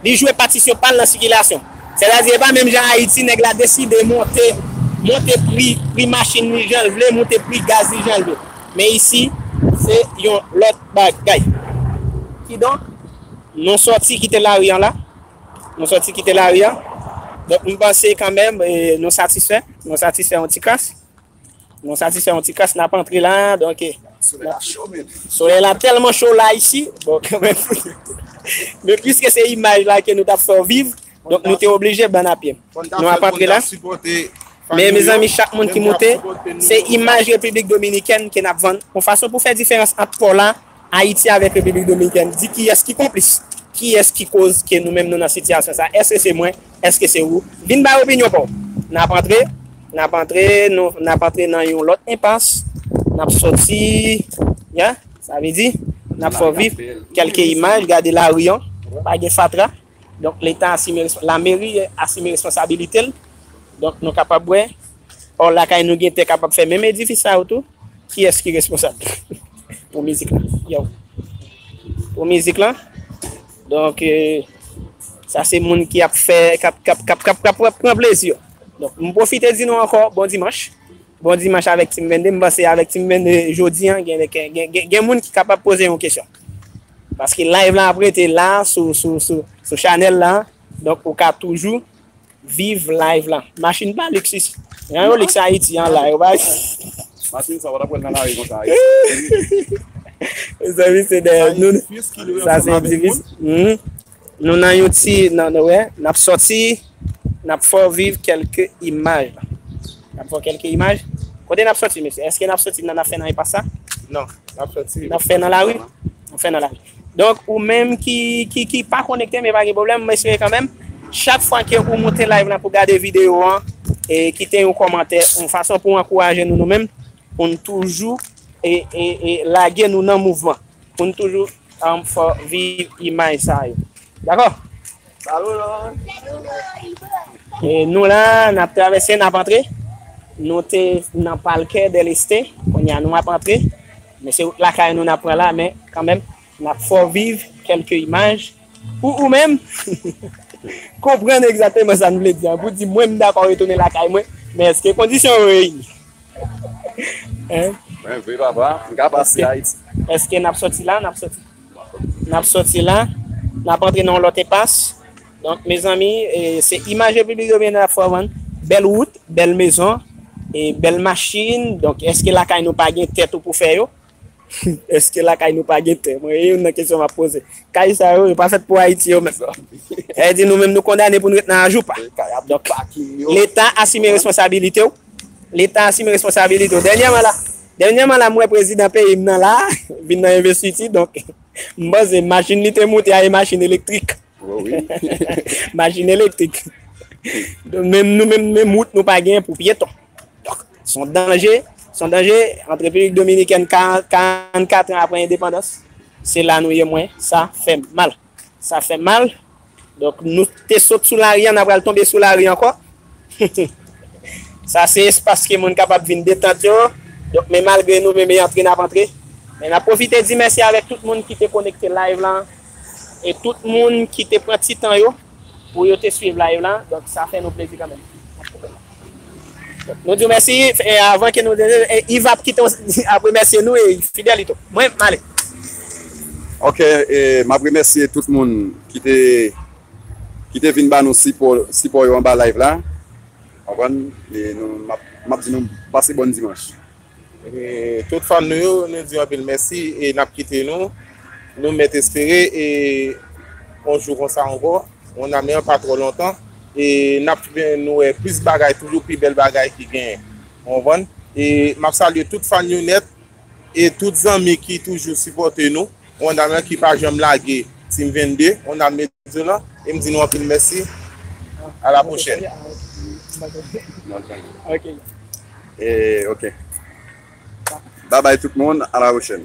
Li jwe patisyon pa l nan sikilasyon. Sètadi e pa menm jan Ayiti nèg la deside monte monte pri pri machin li jan l vle, monte pri gaz li jan l vle. Men isi se yon lòt bagay. Kidonk, nou sòti kite lari an la. Nou sòti kite lari an. Donk m panse kanmenm nou satisfè. Nou satisfè yon ti kras. Nou satisfè yon ti kas nap antre la. Solèy la tèlman cho la isi. Men pwiske se imaj la ke nou tap fè ou viv. Donk nou te oblije ban a pye. Nou ap antre la. Men mezanmi chak moun ki moute. Se imaj Repiblik Dominikèn ke nap vann. Yon fason pou fè diferans ant pò la. Ayiti avèk Repiblik Dominikèn di kiyès ki konplis, kiyès ki koz ke nou menm nou nan sitiyasyon sa, èske se mwen, èske se ou? Vin bay opinyon pa w! N ap antre, n ap antre, n ap antre nan yon lòt enpas, n ap sòti, yeah, sa vle di, n ap fè w viv kèlke imaj, gade lari an, pa gen fatra. Donk leta asime, la meri asime responsabilite l. Donk nou kapab wè, or lakay nou gen tè kapab fè menm edifis sa yo tou. Kiyès ki responsab pou mizik la? Yow! Pou mizik la? Donk sa se moun ki ap fè, k ap, k ap, k ap, k ap pran plezi yo. Donk m pwofite di nou ankò bon dimanch. Bon dimanch avèk Team 22. M panse avèk Team 22 jodi an gen, gen, gen moun ki kapab poze yon kesyon. Paske live la ap rete la sou chanèl la donk ou ka toujou viv live la. Machin pa liksis. Jan yo liks Ayiti an la yo pa liks. Machin sa ou pa tap wèl nan lari konsa Ayiti. Mezanmi se dèyè nou. Sa se divis. Nou nan yon ti nan nou wè nap sòti nap fè w viv kèlke imaj nap fè w kèlke imaj kote nap sòti mesye èske nap sòti nan nap fè nan enpas sa non nap sòti nap fè nan lari nap fè nan lari donk ou menm ki ki ki pa konekte men pa gen pwoblèm m espere kanmenm chak fwa ke ou moute live la pou gade videyo an e kite yon kòmantè yon fason pou ankouraje nou nou menm Pou n toujou lage nou nan mouvman. Pou n toujou fè viv imaj sa yo. Dakò? Salou Lori! Nou la, n ap travèse, n ap antre. Nou te nan Palkè dèl Este, kounye a nou ap antre. Men se wout lakay nou n ap pran la, men kanmenm Nap fè w viv kèlke imaj pou ou menm konprann egzateman sa n vle di an. Pou di mwen m dakò retounen lakay mwen, men èske kondisyon yo reyini? Mwen vre papa, m ka pase Ayiti. Èske n ap sòti la? N ap sòti la, n ap antre nan yon lòt enpas. Donk mezanmi, se imaj Repiblik Dominikèn nap fè w vann. Bèl wout, bèl mezon, bèl machin. Donk èske lakay nou pa gen tèt ou pou fè yo? Eske lakay nou pa gen tè? Mwen e youn nan kesyon map poze. Kay sa yo, yo pa fèt pou Ayiti yo menm non. Sa di nou menm nou kondane pou nou ret nan ajoupa. Donk, leta asime responsabilite w. Leta asime responsabilite w. Dènyèman la, dènyèman la m wè prezidan peyi m nan la vin nan envestiti donk m panse machin li te moute a e machin elektrik. Machin elektrik. Donk menm nou menm, menm wout nou pa gen pou pyeton. Son danje, son danje an Repiblik Dominikèn 44 an apre endepandans. Se la nou ye mwen, sa fè mal. Sa fè mal. Donk nou te sot sou lari an, n apral tonbe sou lari ankò. Sa se espas ke moun kapab vin detant yo. Donk men malgre nou menm e antre n ap antre. Men n ap pwofite di mèsi avèk tout moun ki te konekte live lan. E tout moun ki te pran ti tan yo pou yo te swiv live la donk sa fè nou plezi kanmenm nou diw mèsi avan ke nou Yve ap kite ap remèsye nou e Fidelito mwen ale. Ok map remèsye tout moun ki te ki te vin ba nou sipò sipò yo anba live la konprann e nou map di nou pase bòn dimanch. E tout fan nou yo, nou di anpil mèsi e n ap kite nou. Nou mèt espere e on jou konsa ankò, on ame an pa twò lontan e n ap fè nou wè plis bagay toujou, pi bèl bagay ki genyen. Ou konprann? E m ap salye tout fan yo nèt e tout zanmi ki toujou sipòte nou. On ame an ki pa janm lage Team 22. On ame. Vidéo lan e m di nou anpil mèsi a la pwochèn. Ok. Bye bye tout moun a la pwochèn.